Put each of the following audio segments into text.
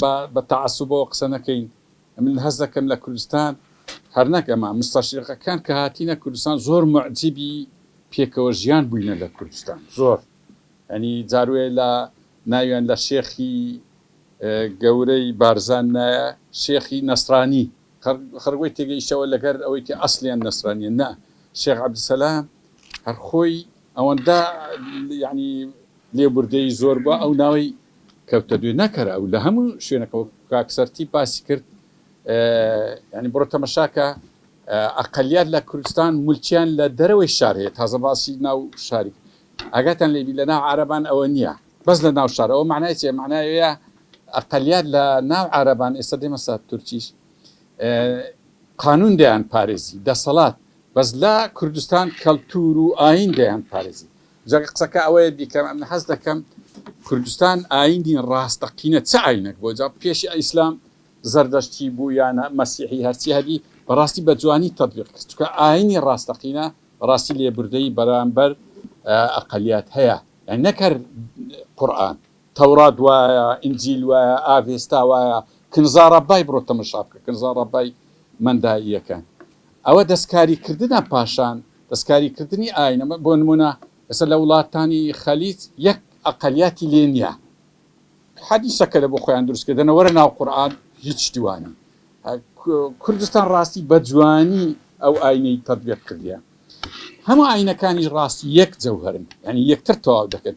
با بە تەعەسوبەوە قسە نەکەین، من هەست دەکەم لە کوردستان هەر نەک ئەمە، موستەشریقەکان کە هاتینە کوردستان زۆر موعجیبی پێکەوە ژیان بووینە لە کوردستان، زۆر یانی جار وەیە لە ناویان لە شێخی گەورەی بارزان نایە شێخی نەسرانی، خەڵک وەی تێگەیشتەوە لەگەر ئەوەی کە ئەسڵیان نەسرانیە، نا شێخ عەبدولسەلام هەر خۆی ئەوەندە یانی لێبوردەیی زۆر بوە ئەو ناوی کەوتە دوێ نەکەرە ئەو لە هەموو شوێنەکە وەک کاک سەرتیپ باسی کرد یانی بڕۆ تەمەشاکە ئەقلیات لە کوردستان ملکیان لە دەرەوەی شار هەیە تازە باسی ناو شاری ئاگاتان لێبی لە ناو عربان ئەوە نییە بەس لە ناو شار ئەوە معنای چێ معناوەیە ئەقلیات لە ناو عربان ئێستا دێمەسا تورکیش قانون دەیان پارێزی دەسەڵات بەس لە کوردستان کەلتور و ئاین دەیان پارێزی جا قسەکە ئەوەیە بیکەم ئەمن حەز دەکەم کوردستان ئاینی ڕاستەقینە چ ئاینەک بۆ جا پێشی ئیسلام زەردەشتی بوو یان مەسیحی هەرچی هەبی بەڕاستی بە جوانی تەبیق کرد چکە ئاینی ڕاستەقینە ڕاستی لێبوردەی بەرامبەر ئەقلیات هەیە یعنی نەکەر قورئان تەورات وایە ئینجیل وایە ئاڤێستا وایە کنزا ڕەبای بڕۆ تەمەشا بکە کنزا ڕەبای مەندائیەکان ئەوە دەسکاری کردنە پاشان دەسکاری کردنی ئاینە بۆ نمونە ئێستا لە وڵاتانی خەلیج یەک ئەقەلیاتی لێ نیە حەدیسەکە لە بۆ خۆیان دروست کردنە وەرە ناو قورئان هیچ شتی وانە کوردستان ڕاستی بە جوانی ئەو ئاینەی تەطبیق کردیە هەموو ئاینەکانی ڕاستی یەک جەوهرن یعنی یەکتر تەواو دەکەن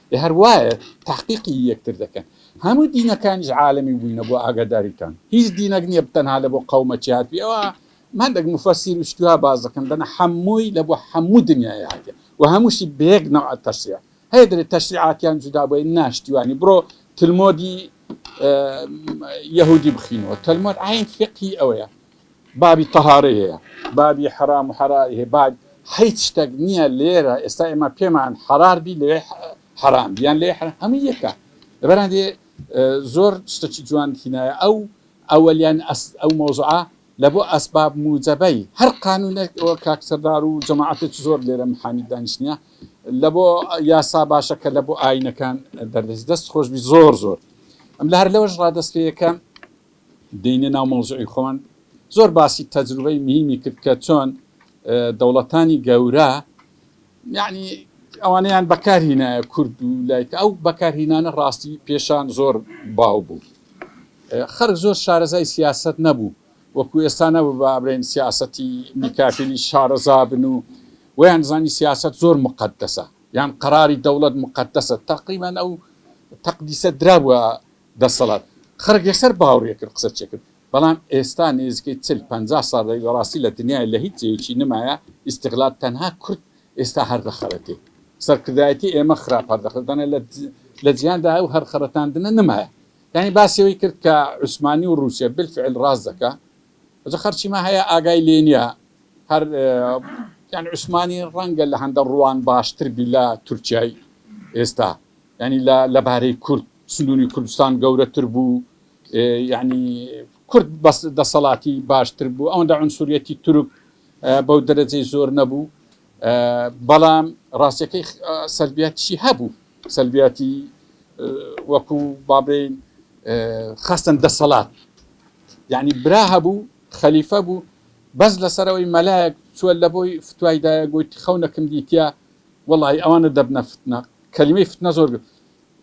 هەر وایە تەحقیقی یەکتر دەکەن هەموو دینەکانیش عالمی بووینە بۆ ئاگاداریتان هیچ دینەک نییە بتەنها لە بۆ قەومە چی هاتوی ئەوە مادەک مفەسیر و شتیوا باز دەکەن دەنا حەمووی لە بۆ حەموو دنیای هاتێ و هەمووشی بەیەک نەوع تەشریع هەیە دەێت تەشریعاتیان جودا بۆی ناشتیوانی بڕۆ تلمۆدی یهودی بخینەوە تەلمۆد عین فقی ئەوەیە بابی تەهارەی هەیە بابی حەرام و حەراری هەیە با حیچ شتەک نیە لێرە ئێستا ئێمە پێمان حەرار بی لەوێ حەرام بیان لێ حەرام هەموو یەکە لەبەران دێ زۆر شتەکی جوان تینایە ئەو ئەوەلیان ئەو مۆزعە لە بۆ ئەسباب موجەبەی هەر قانونێک ئەوە کاکسەردار و جەماعاتێک زۆر لێرە محامی دانیشتە لە بۆ یاسا باشە کە لە بۆ ئاینەکان دەردەست دەست خۆشبی زۆر زۆر ئەم لە هەر لەوەش ڕادستپێیەکە دێینە ناو مەوزوعی خۆمان زۆر باسی تەجروبەی مهیمی کرد کە چۆن دەوڵەتانی گەورە یعنی ئەوانەیان بەکارهینایە کورد و لایکە ئەو بەکارهینانە ڕاستی پێشان زۆر باو بوو خەرک زۆر شارەزای سیاست نەبوو وەکو ئێستا نەبوو بە ئەبرێن سیاستی میکافیلی شارەزا بن و ویان زانی سیاست زۆر مقدسە یان قراری دەوڵەت مقدسە تقریبان ئەو تەقدیسە درابووە دەسەڵات خەرک یەکسەر باوڕی کرد قسە چێکرد بەڵام ئێستا نێزیکەی چل پەنجا ساڵ دەبی بەڕاستی لە دنیای لە هیچ جێیەکی نمایە ئیستغلال تەنها کورد ئێستا هەر دەخەرەتێ سەرکردایەتی ئێمە خراپ هەر دەخەرەتێ دەنا لە لە جیهاندا ئەو هەر خەرەتاندنە نمایە یانی باسی ئەوەی کرد کە عوسمانی و ڕوسیا بالفعل ڕاست دەکا جا خەرچیمە هەیە ئاگای لێ نیە هەر یان عوسمانی ڕەنگە لە هەندە ڕوان باشتر بی لە تورکیای ئێستا یانی لە لەبارەی کورد سندونی کوردستان گەورەتر بوو یعنی کورد بەس دەسەڵاتی باشتر بوو ئەوەندە عنسوریەتی تورک بەو دەرەجەی زۆر نەبوو بەڵام ڕاستیەکەی سەلبیاتیشی هەبوو سەلبیاتی وەکو بابین خستن دەسەڵات یعنی برا هەبوو خەلیفە بوو بەس لەسەرەوەی مەلایەک چوە لە بۆی فتوایدایە گوت خەونەکم دیتە وڵی ئەوانە دەبنە فتنە کەلیمەی فتنە زۆر گوت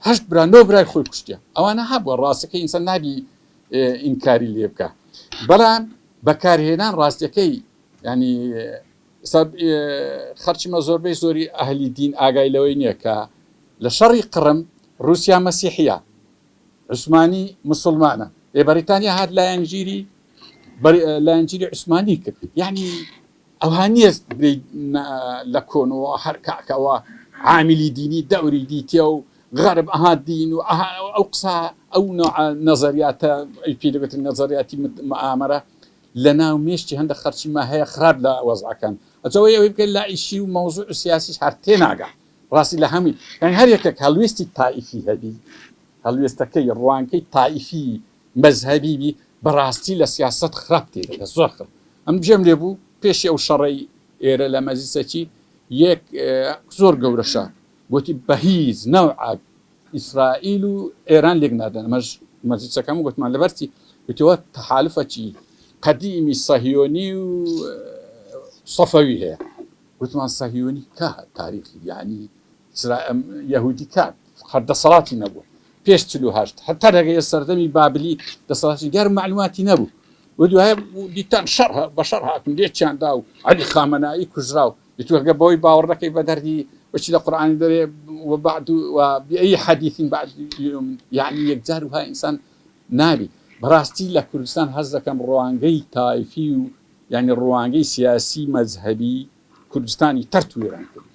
هەشت برا نۆ برای خۆی کوشتە ئەوانە هەبووە ڕاستەکە ئینسان نابی ئینکاری لێ بکە بەڵام بەکارهێنان ڕاستەکەی ینی ئێستا خەرچمە زۆربەی زۆری ئەهلی دین ئاگای لەوەی نییە کە لە شەڕی قڕم ڕووسیا مەسیحیە عوسمانی مسلمانە لێ بەریتانیا هات لایەنگیری لایەنگیری عوسمانی کرد یعنی ئەوها نییە لە کۆنەوە هەر کاکەوە عامیلی دینی دەوری دیتە و غەرب ئەها دین و ئەو قسە ئەو نەزەریاتە پێ دەبێت نەزەریاتی ئامەرە لەناو مێشکی هەندەک خەرچی ما هەیە خراپ لە وەزعەکەن ئەجا وەی ئەوەی بکەی لای شی و مەوزوع و سیاسیش هەر تێناگا ڕاستی لە هەمووی یانی هەر یەکەک هەڵوێستی تائیفی هەبی هەڵوێستەکەی ڕوانکەی تائیفی مەزهەبی بی بەڕاستی لە سیاسەت خراپ تێدەگا زۆر خراپ ئەم گوێم لێ بوو پێشی ئەو شەڕەی ئێرە لە مەجلیسەکی یەک زۆر گەورەشە گۆتی بەهیج نەوعەک ئیسرائیل و ئێران لێک نادەن ئەمەش مەجلسەکەم گوتمان لەبەرچی گوتەوە تەحالفەکی قەدیمی سەهیۆنی و سەفەوی هەیە گوتمان سەهیۆنی کا تاریخی یعنی یهودی کات هەر دەسەڵاتی نەبوو پێش هەشت هەتا دەگەیە سەردەمی بابلی دەسەڵاتی گەر معلوماتی نەبوو و دوای دیتان شەڕ بە شەڕ هاتن لێ چیاندا و علی خامەنایی کوژرا و ئیتر گەر بەوەی باوەڕ نەکەی بە دەردی بچی لە قورئانی دەرێ و بعد و بأی حدیث بعد یؤمن یعنی یەکجار وها ئینسان نابی بەڕاستی لە کوردستان هەست دەکەم ڕوانگەی تایفی و یانی ڕوانگەی سیاسی مەزهەبی کوردستانی تەرت و وێران کرد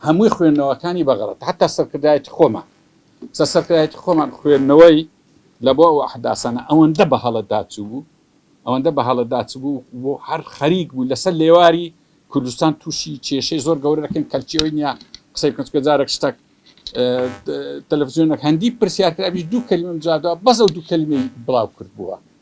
هەمووی خوێندنەوەکانی بە غەڵەت حتا سەرکردایەتی خۆمان سە سەرکردایەتی خۆمان خوێندنەوەی لە بۆ ئەو ئەحداسانە ئەوەندە بە هەڵەدا چوو بوو ئەوەندە بە هەڵە داچبوو و هەر خەریک بوو لە سەر لێواری کوردستان تووشی کێشەی زۆر گەورە دەکەین، کەلکی ئەوەی نییە قسەی بکەم، چونکە جارێک شتەک تەلەفزیۆنێک هەندی پرسیار کرابیش دوو کەلیمەم جواب داوە، بەس ئەو دوو کەلیمەی بڵاو کردبووە.